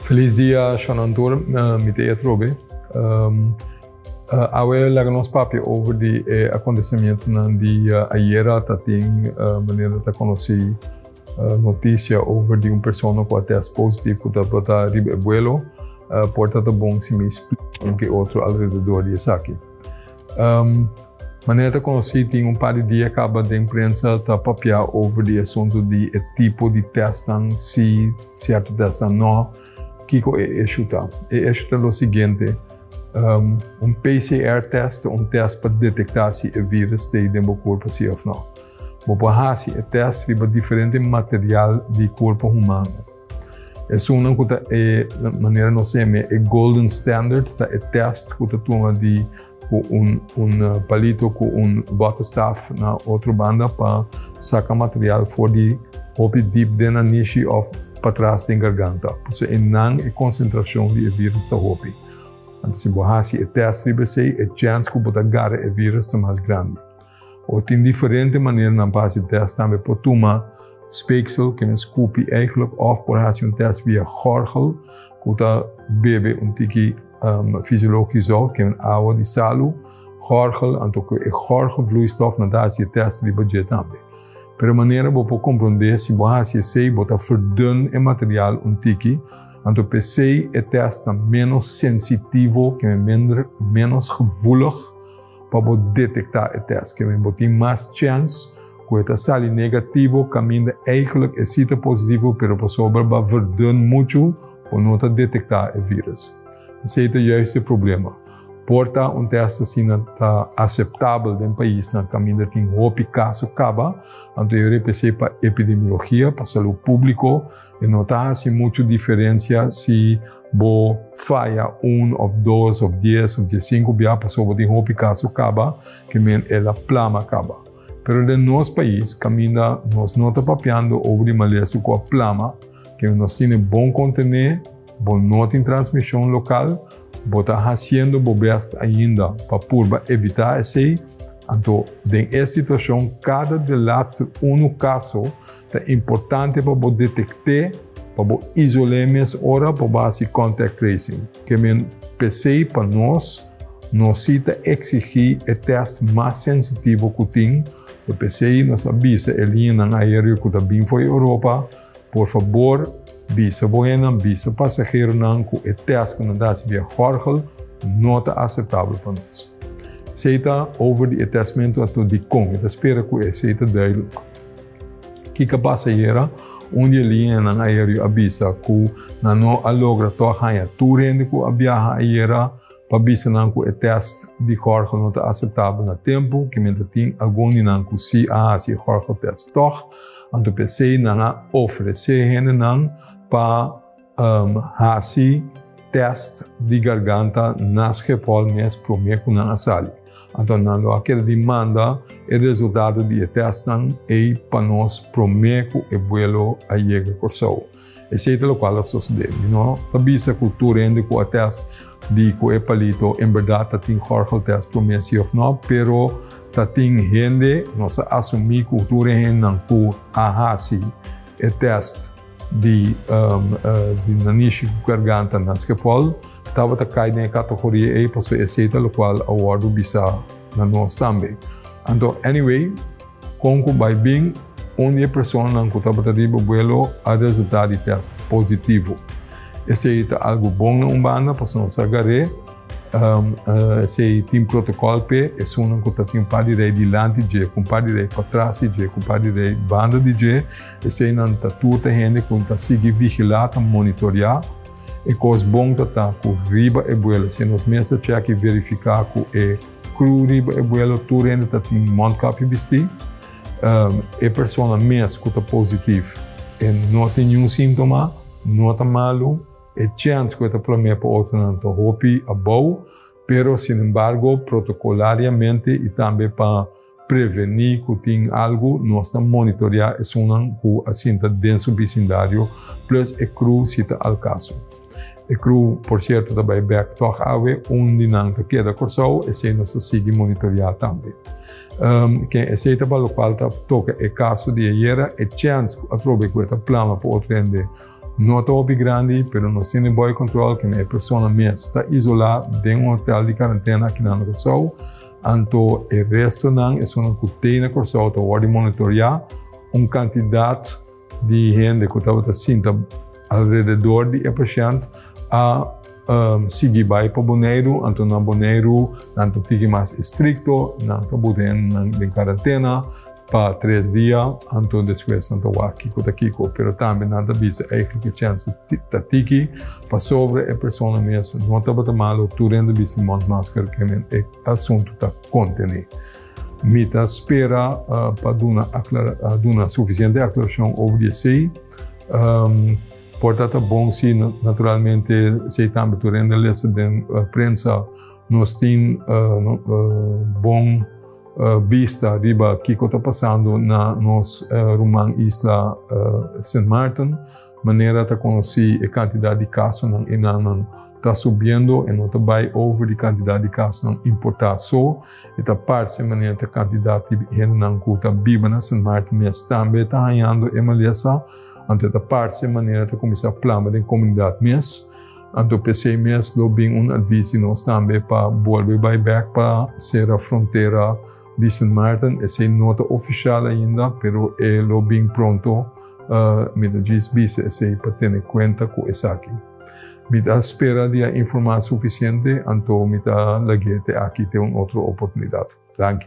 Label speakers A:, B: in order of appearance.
A: Feliz dia Sean Anthor, mi ta Ed Robe. Awe laga nos papia over di e acontecimientonan di ayera tatin manera ta conoci noticia over di un persona cu a test positivo cu tabata riba e vuelo por ta ta bon si mi explica un ke otro alrededor di esaki. Um, manera ta conocí, tin un par di dia caba den prensa ta papia over di asunto di e tipo di testnan, si cierto testnan no. Kico e issue ta? E issue ta lo siguiente, um, un PCR test ta un test pa detecta si e virus ta den bo cuerpo si of no. Bo por haci e test riba diferente material di cuerpo humano. Esunnan ku ta e manera nos seme e golden standard, ta e test ku ta tuma di ku un un palito ku un bota staf na otro banda pa saka material for di hopi dip den na nishi of patras den garganta. Pasobra einan e konsentrashon di e virus ta hopi. Anto si bo hasi e test riba esei, e chèns ku bo ta gara e virus ta mas grandi. o tin diferente maneranan pa hasi tèst. Tambe por tuma speeksel, ke mes kupi eigelijk, òf por hasi un tèst via gòrgel ku ta bebe un tiki fisiológiko zout, ke men awa di salu, gòrgel, anto ku e gòrgelvloeistof nan ta hasi e tèst riba dje tambe. Pero manera bo por komprondé, si bo hasi esei bo ta verdun e material un tiki, anto p'esei e tèst ta ménos sensitivo, ke men mender, ménos gevoelig. pa bo detektá e tèst. Kende bo tin mas chèns ku e ta sali negativo kaminda eihgelijk e si ta positivo pero pasobra ba verdun muchu bo no ta detektá e vírus. Esei ta juist e problema. Por ta un tèst asina ta aseptabel den paisnan kaminda tin hopi kaso kaba, anto yo repe esei pa epidemiologia, pa salú públiko, E no ta hasi muchu diferensia si bo faya un of dos of dies of diesinku bia pasobra tin hopi kaso kaba ke men el a plama kaba. Pero den nos pais kaminda nos no ta papiando over di malesa ku a plama ke nos tine bon kontené, bo no tin transmishon lokal, bo ta hasiendo bo bèst ainda pa purba evitá esei, anto den e situashon kada de latster unu kaso, Ta importante pa bo detekt'é, pa bo isol'é mes ora bo basi contact tracing. Ke men p'esei pa nos, nos si ta eksigí e tèst mas sensitivo ku tin, lo p'esei nos a bisa e liñanan aéreo ku ta bin fo'i Europa, por fabor, bisa bo hennan, bisa pasaheronan ku e tèst ku nan ta hasi via Gorgel no ta aseptabel pa nos. Esei ta over di e tèstmentu ato dikon. Mi ta spera ku esei ta duidelijk. Kiko a pasa ayera? Un di e linienan aerio a bisa cu nan no a logra toa haña tur hende cu a biaha ayera pa bisa nan cu e test di Jorge no ta aceptabel na tempo, kimen ta tin algun di nan cu si a haci e Jorge test tog, anto p'esey nan a ofrece hendenan pa Hasi tèst di garganta na Schepol mes promé ku nan a sali. Anto nan lo a keda di manda e resultado di e tèstnan ei pa nos promé ku e buelo a yega Kòrsou. Esei ta lokual a sosodé. Mi no ta bisa ku tur hende ku a tèst di ku e palito en bèrdat ta tin gòrgeltèst promé si òf nò, pero ta tin hende, nos a asumí ku tur e hendenan ku a hasi e tèst, di di nanishi cu garganta na Schiphol tabata cay den e categoria ey pasobra esey ta locual a wordo bisa na nos tambe. Anto anyway con cu bay bin un di e personanan cu tabata riba vuelo a resulta di test positivo. Esey ta algo bon na un banda pasobra nos sa garé esey tin protocol p'e esunnan cu ta tin un par di rey dilanti dje cu un par di rey patras di dje cu un par di rey banda di dje. Eseinan ta tur te hende ku ta sigui vigilá, ta monitoreá. E kos bon ta ta ku riba e buelo, si nos mes ta chèk i verifiká ku e crew riba e buelo tur hende ta tin mondkapje bistí. E persona mes ku ta positif e no tin niun síntoma, no ta malu. E chèns ku e ta promé pa otronan ta hopi abou, pero sinembargo protokolariamente i tambe pa. Prevení ku tin algu, Nos ta monitoreá esunnan ku a sinta den su bisindario plus e kru si ta al kaso. E kru, por sierto, ta bai bèk tòg awe. Un di nan ta keda Kòrsou, esei nos ta sigui monitoreá tambe. Ke esei ta balo kual ta toka e kaso di ayera, e chèns ku a trobe ku e ta plama pa otro hende no ta hopi grandi, pero nos tin den bòi kòntròl kende e persona mes ta izolá den un hotèl di karantena akinan na Kòrsou. Anto e restonan, esunnan ku t'ei na Kòrsou, ta wòrdu monitoriá. Un kantidat di hende ku tabata sinta alrededor di e pashènt a sigui bai pa Boneiru. Anto na Boneiru nan ta tiki mas estrikto, nan ta buta hendenan den karantena. pa tres dia, anto despues nan ta wak kiko ta kiko. Pero tambe nan ta bisa eigentlik e chèns ta tiki pasobra e persona mes no tabata malu, tur hende bisti mondmasker ke men e asuntu ta konteni. Mi ta spera pa duna aklara, duna sufisiente aklarashon over di esei. Por tabata bon si naturalmente esei tambe tur hende lesa den prensa. Nos tin bon. bista riba kiko ta pasando na nos ruman isla Sint Maarten, manera ta konosí e kantidat di kasonan enannan ta subiendo, e no ta bai over di kantidat di kasonan importá. So, e ta parse manera ta kantidat di hendenan ku ta biba na Sint Maarten mes tambe ta hañando e malesa, anto e ta parse manera ta kuminsá plama den komunidat mes. Anto p'e seis mes lo bin un advis di nos tambe pa bolbe bai bek pa sera frontera di Sint Maarten. Esei no ta ofishal ainda, pero e lo bin pronto. Mi ta djis bisa esei pa tene kuenta ku esaki. Mi ta spera di a informá sufisiente, anto mi ta lag'é te aki te un otro oportunidat. Danki.